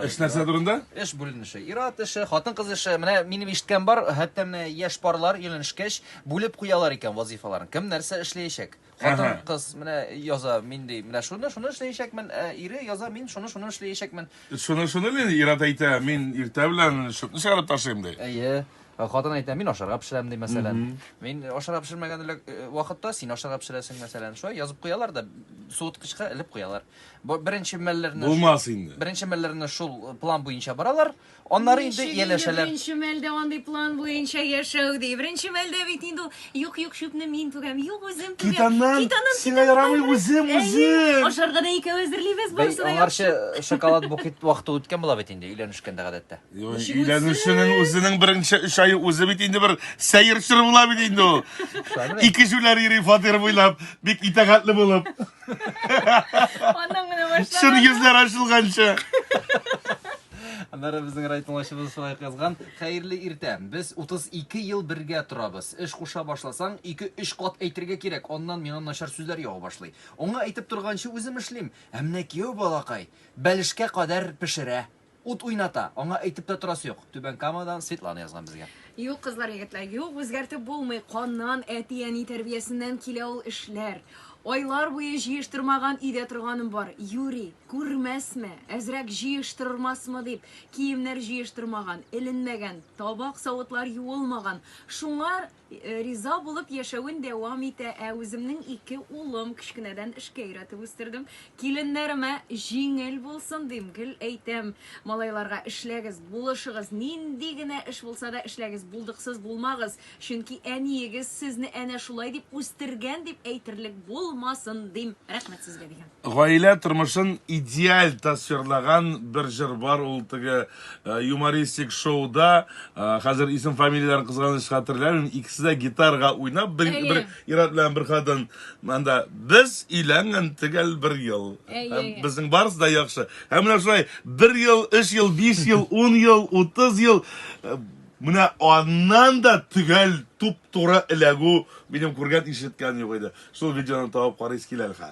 Эш нәрсә турында? Эш бүленеше. Ират эше, хатын-кыз эше. Менә минем ишеткән бар, хәтта менә яшь парлар өйләнешкәч, бүлеп куялар икән вазифаларын. Кем нәрсә эшләячәк? Хатын-кыз менә яза, мин ди, менә шуны, шуны эшләячәкмен. Ә ире яза, мин шуны, шуны эшләячәкмен. Шуны, шуны мин Ират әйтә, мин иртә белән шөпне чыгарып ташыйм ди. Әйе. Ә Хатын әйтә, мин ашарга пешерәм ди, мәсәлән. Мин ашарга пешермәгән элек- э, вакытта син ашарга пешерәсең, мәсәлән. Шулай язып куялар да суыткычка элеп куялар. Бу беренче мәлләрне Булмас шул- инде. Беренче мәлләрне шул э, план буенча баралар. Аннары инде Ничек ияләшәләр. Беренче мәлдә андый план буенча яшәү ди. Беренче мәлдә бит инде ул, юк, юк, чүпне мин түгәм, юк, үзем түгәм. Китаннан, Китаннан, сиңа китаннан ярамый, барып, үзем, әйе, үзем. Ашарга да икәү әзерлибез, Бәй, барысы да яхшы. аңарчы шоколад букет вакыты үткән була бит инде өйләнешкәндә гадәттә. Юк, Ничек Өйләнүченең үзенең беренче өч ае үзе бит инде бер сәер чор була бит инде ул. Шамилә. Ике җүләр йөри фатир буйлап, бик итәгатьле булып. Аннан гына башлама. Чын йөзләр ачылганчы. Аннары безнең райтыңлашыбыз шулай язган. Хәерле иртә. Без 32 ел бергә торабыз. Эш куша башласаң, 2-3 кат әйтергә кирәк. Аннан миңа начар сүзләр ява башлый. Аңа әйтеп торганчы үзем эшлим. Ә менә кияү балакай бәлешкә кадәр пешерә. Ут уйната, аңа әйтеп тә торасы юк. Түбән Камадан Светлана язган безгә. Юк, кызлар, егетләр, юк, үзгәртеп булмый. Каннан, әти-әни тәрбиясеннән килә ул эшләр. Айлар буе җыештырмаган өйдә торганым бар. Юри, күрмәсме, әзрәк җыештырырмасмы дип, киемнәр җыештырмаган, эленмәгән, табак-савытлар юылмаган. Шуңар Э, риза булып яшәвен дәвам итә. Ә үземнең ике улым кечкенәдән эшкә өйрәтеп үстердем. Киленнәремә җиңел булсын дим, гел әйтәм. Малайларга эшләгез, булышыгыз, нинди генә эш булса да эшләгез, булдыксыз булмагыз. Чөнки әниегез сезне әнә шулай дип үстергән дип әйтерлек булмасын дим. Рәхмәт сезгә дигән. Гаилә тормышын идеаль тасвирлаган бер җыр бар, ул теге юмористик шоуда, хәзер исем-фамилияләрен кызганыч хәтерләмим, икесе дә гитарга уйнап, бер, бер ир-ат белән бер хатын, анда без өйләнгән төгәл бер ел, һәм безнең барысы да яхшы. Һәм менә шулай бер ел, өч ел, биш ел, ун ел, утыз ел, Менә аннан да төгәл, туп-туры эләгү минем күргән-ишеткән юк иде. Шул видеоны табып карыйсы килә әлхә.